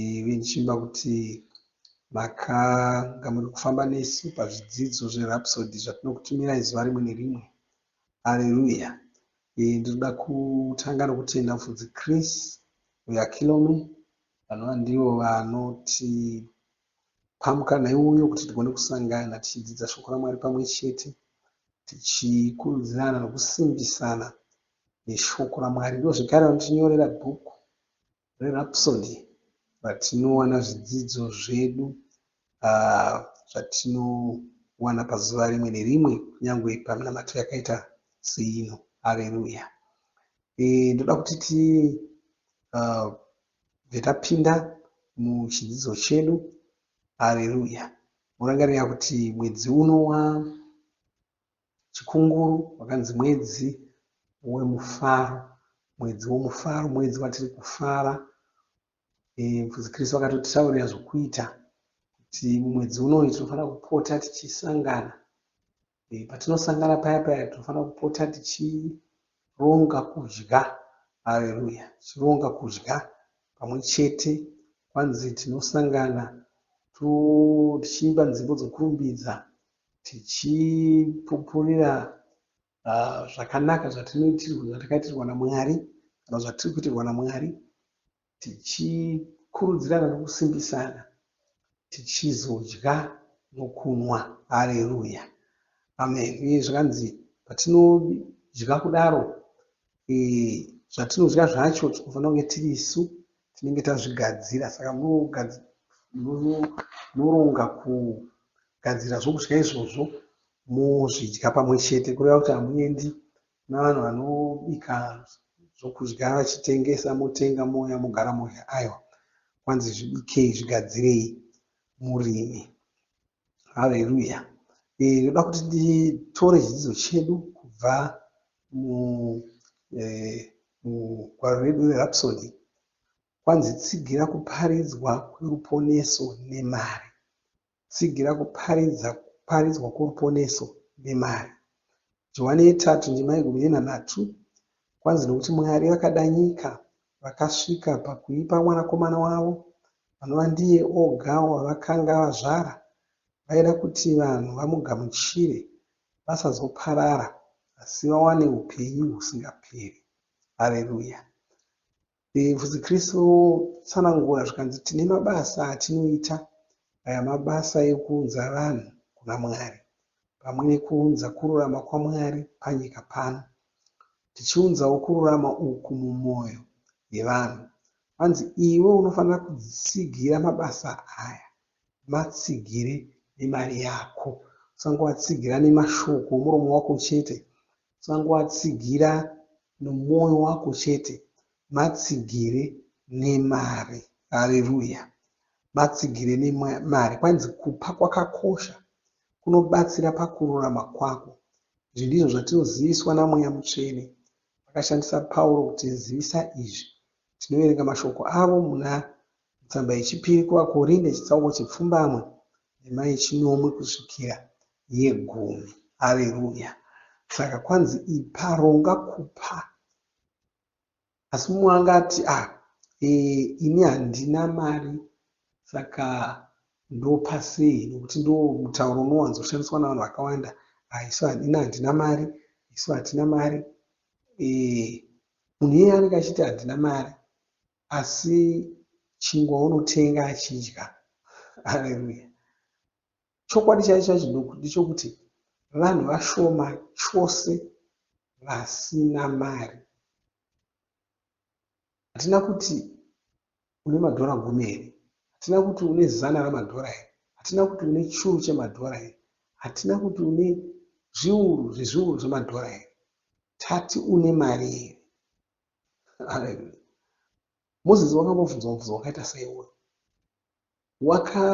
Ivi ndichimba kuti makanga muri kufamba nesu pazvidzidzo zveRhapsody zvatinokutumirai zuva rimwe nerimwe. Areruya! Ivi ndinoda kutanga nokutenda Mufudzi Chris weAkilome, vanova ndivo vanotipa mukana iwoyo kuti tigone kusangana tichidzidza Shoko raMwari pamwe chete, tichikurudzirana nokusimbisana neShoko raMwari. Ivo zvekare vanotinyorera bhuku ReRhapsody ratinowana zvidzidzo zvedu zvatinowana pazuva rimwe nerimwe kunyangwe paminamato yakaita seino. Hareruya. Eh, ndoda kuti ti uh, vetapinda muchidzidzo chedu hareruya morangarira kuti mwedzi uno wa Chikunguru wakanzi mwedzi wemufaro, mwedzi womufaro, mwedzi watiri kufara. Mufudzi Kristu akatotitaurira zvokuita kuti mumwedzi unoyu tinofanira kupota tichisangana. Patinosangana paya paya tinofanira kupota tichironga kudya. Haleluya! Tichironga kudya pamwe chete. Kwanzi tinosangana tichiimba nzimbo dzokurumbidza, tichipupurira zvakanaka zvatakaitirwa naMwari kana zvatiri kuitirwa naMwari tichikurudzirana nekusimbisana tichizodya nokunwa. Hareruya. Amen. Uye zvakanzi patinodya kudaro zvatinodya zvacho tinofanira kunge tiri isu tinenge tazvigadzira saka munoronga kugadzira zvokudya izvozvo mozvidya pamwe chete kureva kuti hamuendi navanhu vanobika zvokudya vachitengesa motenga mouya mogara modya aiwa kwanzi zvibikei zvigadzirei murimi Haleluya. Eh, ndoda kuti titore chidzidzo chedu kubva mugwaro eh, redu rerapsody kwanzi tsigira kuparidzwa kweruponeso nemari tsigira kuparidza kuparidzwa kworuponeso nemari johani yetatu ndima yegumi nenhanhatu kwanzi nokuti mwari vakada nyika vakasvika pakuipa mwanakomana wavo anova ndiye oga wavakanga vazvara. Vaida kuti vanhu vamugamuchire, vasazoparara, asi vawane upenyu husingaperi. Hareruya! Ndebvu dzeKristu dzinotsanangura zvikanzi, Tine mabasa atinoita, aya mabasa ekuunza vanhu kuna Mwari. pamwe nekuunza kururama kwaMwari panyika pano, tichiunzawo kururama uku mumwoyo yevanhu. Kwanzi iwe unofanira kutsigira mabasa aya, matsigire nemari yako. Usangoatsigira nemashoko omuromo wako chete, usangoatsigira nomwoyo wako chete, matsigire nemari. Haleruya! Matsigire nemari. Kwanzi kupa kwakakosha, kunobatsira pakururama kwako. Izvi ndizvo zvatinoziviswa naMweya Mutsvene. Vakashandisa Pauro kutizivisa izvi. Tinoverenga mashoko avo muna mutsamba yechipiri kuvaKorinde chitsauko chepfumbamwe ndima yechinomwe kusvikira yegumi. Hareruya! Saka kwanzi ipa, ronga kupa. Asi mumwe angati, Ah, ee, ini handina mari, saka ndopa sei? Nokuti ndiwo mutauro unowanzoshandiswa navanhu vakawanda, Ah, isu, ini handina mari, isu hatina mari. Ee, munhu iyeye anenge achiti handina mari, asi chingwa unotenga achidya. Hareruya! Chokwadi chaicho chaChiduku ndechokuti vanhu vashoma chose vasina mari. Hatina kuti une madhora gumi here, hatina kuti une zana ramadhora here, hatina kuti une churu chemadhora here, hatina kuti une zviuru zvezviuru zvemadhora here, tati une mari here. Haleluya. Mozisi wakambobvunzwa mubvunzo wakaita seiwoyo. waka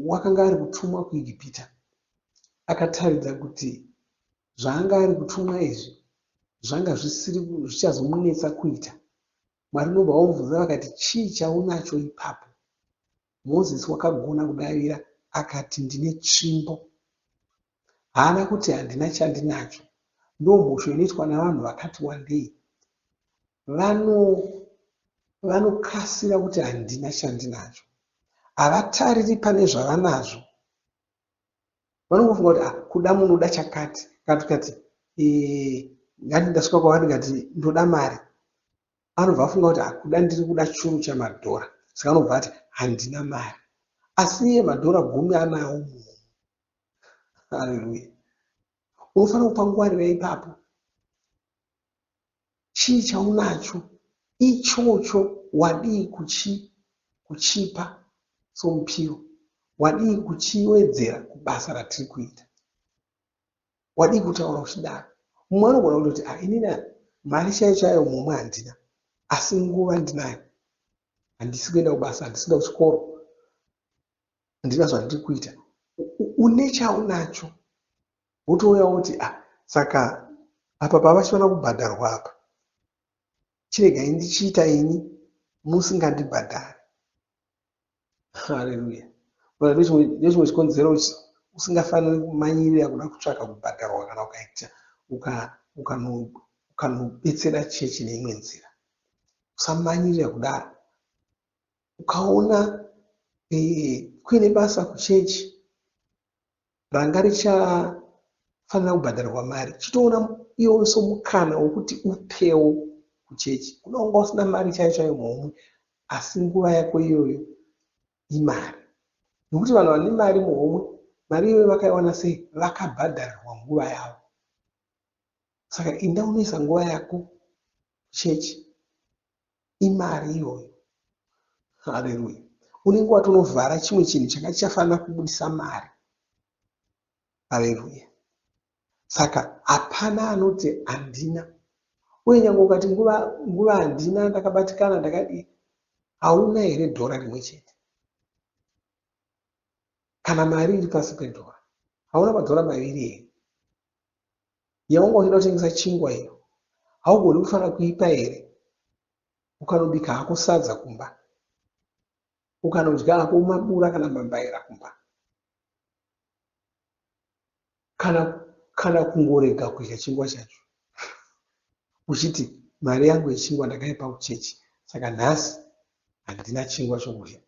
wakanga ari kutumwa kuIgipita akataridza kuti zvaanga ari kutumwa izvi zvanga zvisiri zvichazomunetsa kuita. Mwari ndobva vamubvunza vakati, Chii chaunacho ipapo? Mozisi wakagona kudavira akati, Ndine tsvimbo. Haana kuti handina chandinacho. Ndomhosho inoitwa navanhu vakati wandei. Vano, vanokasira kuti handina chandinacho. Havatariri pane zvavanazvo. Vanongofunga kuti ah, kuda munoda chakati. Kana tikati eh, ngati ndasvika kwavari ndikati ndoda mari, anobva afunga kuti ah, kuda ndiri kuda churu chamadhora, saka anobva ati handina mari, asi iye madhora gumi anawo munhu. Haleluya! Unofanira kupa ngwarira ipapo. Chii chaunacho ichocho wadii kuchi kuchipa somupiro? Wadii kuchiwedzera kubasa ratiri kuita? Wadii kutaura uchidaro? Mumwe anogona kutoti ah inini mari chaiyo chaiyo mumwe handina asi nguva ndinayo handisi kuenda kubasa handisi kuenda kuchikoro handina zvandiri kuita une chaunacho wotouya woti ah saka apa pavasi kuda kubhadharwa apa chiregai ndichiita ini musingandibhadhari haleluya nechimwe chikonzero usingafaniri kumanyirira kuda kutsvaka kubhadharwa kana ukaita ukanobetsera chechi neimwe nzira usamanyirira kudaro ukaona eh, kuine basa kuchechi ranga richafanira kubhadharirwa mari chitoona iwo so mukana wokuti upewo kuchechi kuda wanga usina mari chaiyo chaiyo muhomwe asi nguva yako iyoyo imari nokuti vanhu vane mari muhomwe mari iyoyo vakaiwana sei vakabhadharirwa nguva yavo saka inda unoisa nguva yako kuchechi Imari iyoyo. Haleluya. Unenge watonovhara chimwe chinhu changa chichafanira kubudisa mari. Haleluya. Saka hapana anoti handina. Uye nyange ukati nguva nguva handina ndakabatikana ndakadii. Hauna here dhora rimwe chete? Kana mari iri pasi pedhora. Hauna madhora maviri here? Yaunga uchida kutengesa chingwa iyo haugoni kufana kuipa here ukanobika hako sadza kumba ukanodya hako mabura kana mambaira kumba kana kana kungorega kudya chingwa chacho uchiti mari yangu yechingwa ndakaipa kuchechi saka nhasi handina chingwa chokudya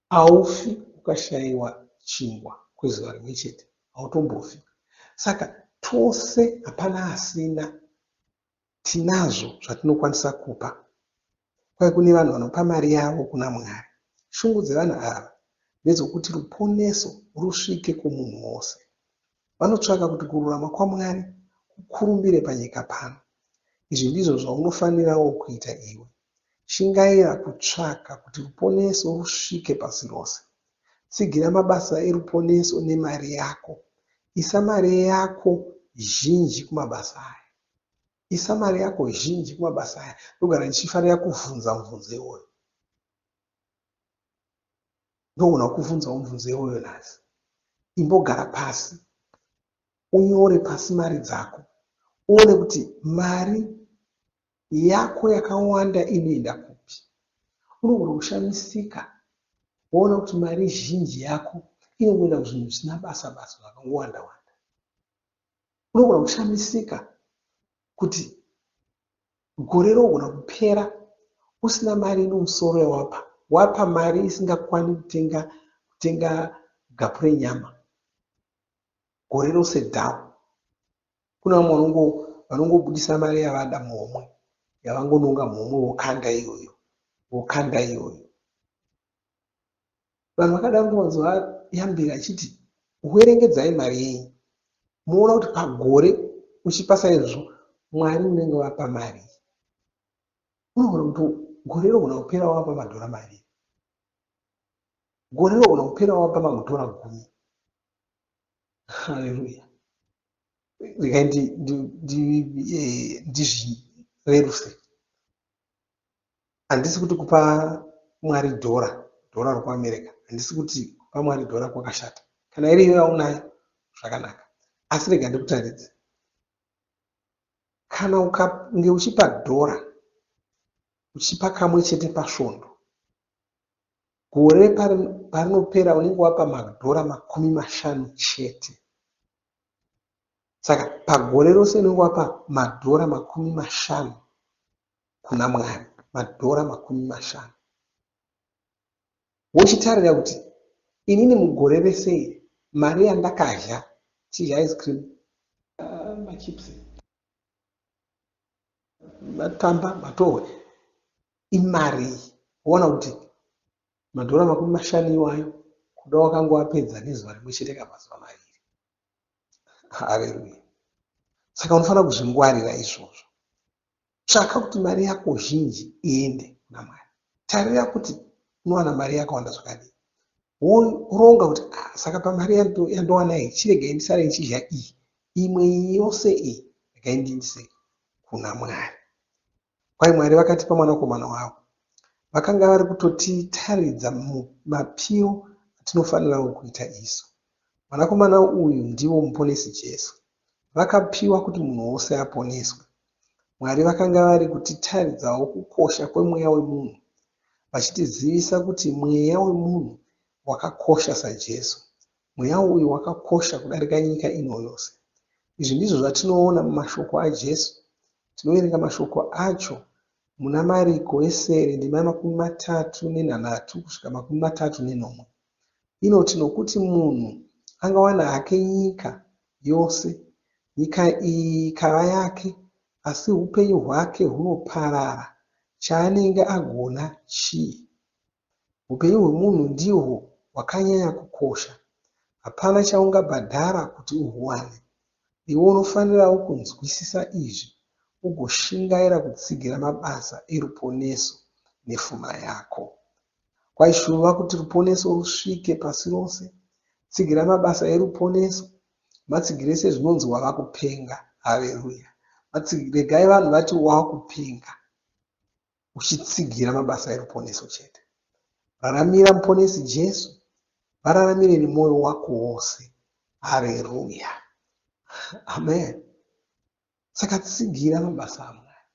Haufi ukashaiwa chingwa kwezuva rimwe chete, hautombofi. Saka tose hapana asina, tinazvo zvatinokwanisa kupa. Kwai kune vanhu vanopa mari yavo kuna Mwari. Shungu dzevanhu ava ndedzokuti ruponeso rusvike kumunhu wose. vanotsvaka kuti kururama kwaMwari kukurumbire panyika pano. Izvi ndizvo zvaunofanirawo kuita iwe. Shingaira kutsvaka kuti ruponeso rusvike pasi rose. Tsigira mabasa eruponeso nemari yako. Isa mari yako zhinji kumabasa aya. Isa mari yako zhinji kumabasa aya. Ndogara ndichifarira kuvhunza muvhunzo iwoyo. Ndogona kukuvhunzawo mubvunzo iwoyo nhasi. Imbogara pasi unyore pasi mari dzako uone kuti mari yako yakawanda inoenda kupi. Unogona kushamisika woona kuti mari zhinji yako inongoenda kuzvinhu zvisina basa basa zvakangowanda wanda. Unogona kushamisika kuti Mugore rinogona kupera usina mari ine musoro yawapa. Wapa mari isingakwani kutenga kutenga gapu renyama gore rose down. Kune vamwe vanongo vanongobudisa mari yavada muhomwe yavangononga muhomwe vokanda iyoyo vokanda iyoyo. Vanhu vakada kungonzwa Yambira achiti werengedzai mari yenyu moona kuti pagore uchipa saizvozvo Mwari unenge wapa marii. Unogona kuti gore rinogona kupera wapa madhora maviri, gore rinogona kupera wapa mamwe dhora gumi. Haleluya! Regai ndizvireruse. Handisi kuti kupa Mwari dhora, dhora rokuAmerica, handisi kuti kupa Mwari dhora kwakashata. Kana iri iyo yaunayo, zvakanaka. Asi rega ndikutaridze. Kana ukange uchipa dhora, uchipa kamwe chete pasvondo, gore parinopera unenge wapa madhora makumi mashanu chete. Saka pagore rose unenge wapa madhora makumi mashanu kuna Mwari madhora makumi mashanu wochitarira kuti inini mugore rese iri mari yandakadya chidya ice cream ah, machips matamba matohwe imari iyi woona kuti madhora makumi mashanu iwayo kuda wakanga wapedza nezuva rimwe chete kamazuva maviri hareruya saka unofanira kuzvingwarira izvozvo Tsvaka kuti mari yako zhinji iende kuna Mwari. Tarira kuti unowana mari yakawanda zvakadii. Woronga kuti ah, saka pamari yandowana iyi chiregai ndisare ndichidya iyi. Imwe iyi yose iyi regai ndiindise kuna Mwari. Kwai Mwari vakatipa mwanakomana wavo. Vakanga vari kutotitaridza mapiro atinofanirawo kuita isu. Mwanakomana uyu ndivo Muponesi Jesu. Vakapiwa kuti munhu wose aponeswe. Mwari vakanga vari kutitaridzawo kukosha kwemweya wemunhu, vachitizivisa kuti mweya wemunhu wakakosha saJesu. Mweya uyu wakakosha kudarika nyika ino yose. Izvi ndizvo zvatinoona mumashoko aJesu. Tinoverenga mashoko acho muna Mariko wesere ndima yemakumi matatu nenhanhatu kusvika makumi matatu nenomwe. inoti nokuti munhu angawana hake nyika yose, nyika iyi ikava yake, asi upenyu hwake hunoparara, chaanenge agona chii? Upenyu hwemunhu ndihwo hwakanyanya kukosha. Hapana chaungabhadhara kuti uhuwane. Iwe unofanirawo kunzwisisa izvi ugoshingaira kutsigira mabasa eruponeso nepfuma yako. Kwaishuva kuti ruponeso rusvike pasi rose. Tsigira mabasa eruponeso. Matsigirei sezvinonzi wava kupenga. Hareruya. Matsigirei. Regai vanhu vati wava kupenga uchitsigira mabasa eruponeso chete. Raramira Muponesi Jesu. Vararamire nemwoyo wako wose. Hareruya. Amen. Saka tsigira mabasa aMwari,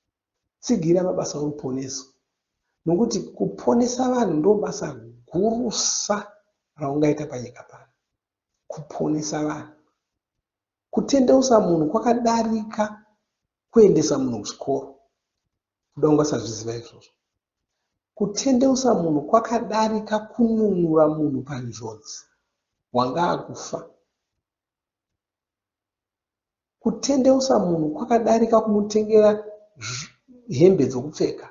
tsigira mabasa oruponeso, nokuti kuponesa vanhu ndobasa gurusa raungaita panyika pano, kuponesa vanhu. Kutendeusa munhu kwakadarika kuendesa munhu kuchikoro, kuda ungasazviziva izvozvo. Kutendeusa munhu kwakadarika kununura munhu panjodzi, wanga akufa. Kutendeusa munhu kwakadarika kumutengera hembe dzokupfeka.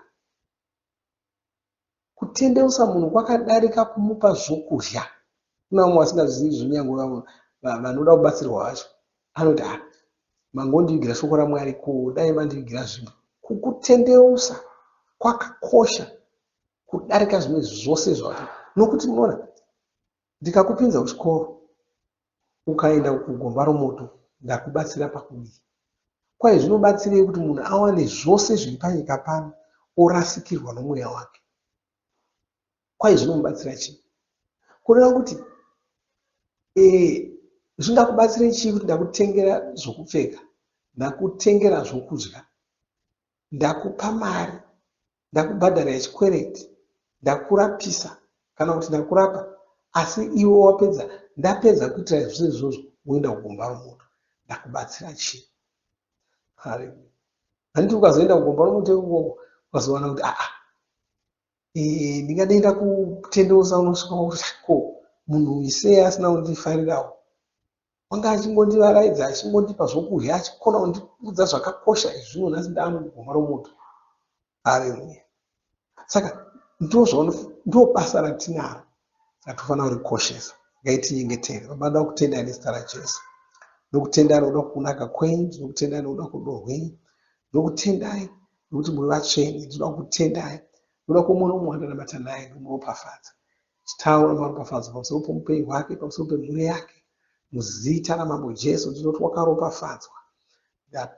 Kutendeusa munhu kwakadarika kumupa zvokudya. Kune vamwe vasingazvizivi izvi kunyangwe vamwe vanoda kubatsirwa vacho anoti ah mangondivigira shoko raMwari ko dai mandivigira zvimwe. Kukutendeusa kwakakosha kudarika zvimwe zvose zvose nokuti munoona Ndikakupinza kuchikoro ukaenda kugomba romoto ndakubatsira pakudii? Kwai zvinobatsirei kuti munhu awane zvose zviri panyika pano orasikirwa nomweya wake? Kwai zvinomubatsira chii? Kureva kuti ee zvingakubatsirei chii kuti ndakutengera zvokupfeka, ndakutengera zvokudya, ndakupa mari ndakubhadhara chikwereti, ndakurapisa kana kuti ndakurapa asi iwe wapedza ndapedza kuitira zvese izvozvo woenda kugomba romoto ndakubatsira chii kare handiti ukazoenda kugomba romoto ikoko ukazowana kuti aa ndingadaenda kutendeusa unosvika kuti ko munhu isei asina kundifarirawo Wanga achingondivaraidza achingondipa zvokudya achikona kundiudza zvakakosha izvino nhasi ndava mugomba romoto. Hareruya. Saka ndoo basa ratinaro ratofanira kurikoshesa. Ngaitinyengetere. Baba, ndoda kutendai nezita raJesu. Ndokutendai nokuda kwokunaka kwenyu. Ndinokutendai nokuda kworudo rwenyu. Ndinokutendai nokuti muri vatsvene. Ndinoda kukutendai nokuda kwomwono mumwe wandinamata naye. Ndinomuropafadza. Chitaura maropafadzo pamusoro poupenyu hwake, pamusoro pemhuri yake. Muzita raMambo Jesu ndinoti wakaropafadzwa.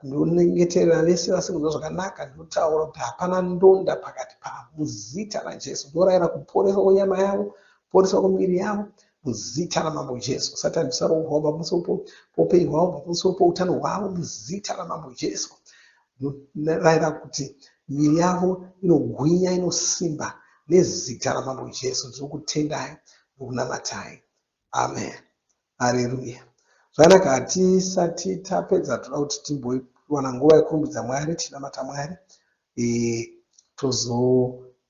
Ndinonyengeterera vese vasiri kunzwa zvakanaka, ndinotaura kuti hapana ndonda pakati pavo. Muzita raJesu ndinorayira kuporeswa kwenyama yavo, kuporeswa kwemiviri yavo, muzita raMambo Jesu. Satani usaroorwa pamusoro poupenyu hwavo, pamusoro poutano hwavo, muzita raMambo Jesu. Ndinorayira kuti miviri yavo inogwinya, inosimba nezita raMambo Jesu. Ndiri kutendai nokunamatai. Amen. Hareruya. Zvakanaka, hatisati tapedza toda kuti timbowana nguva yekurumbidza Mwari, tichinamata Mwari, e, tozo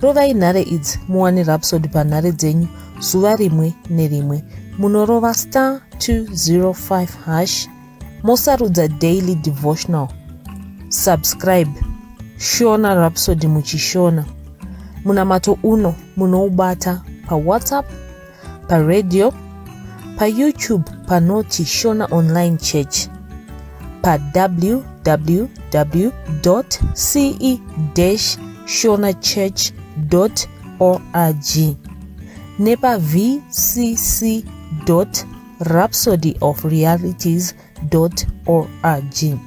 Rovai nhare idzi muwane Rhapsody panhare dzenyu zuva rimwe nerimwe. Munorova star 205 hash mosarudza daily devotional. Subscribe Shona Rhapsody muchishona. Munamato uno munoubata paWhatsApp paradio payoutube panoti shona online church pawww ce shona church org nepavcc rhapsody of realities org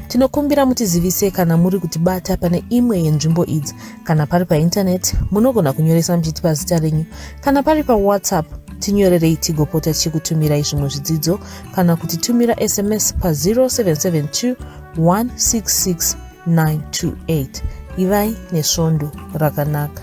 tinokumbira mutizivise kana muri kutibata pane imwe yenzvimbo idzi kana pari paintaneti munogona kunyoresa muchiti pazita renyu kana pari pawhatsapp tinyorerei tigopota tichikutumirai zvimwe zvidzidzo kana kuti tumira sms pa0772 166 928 ivai nesvondo rakanaka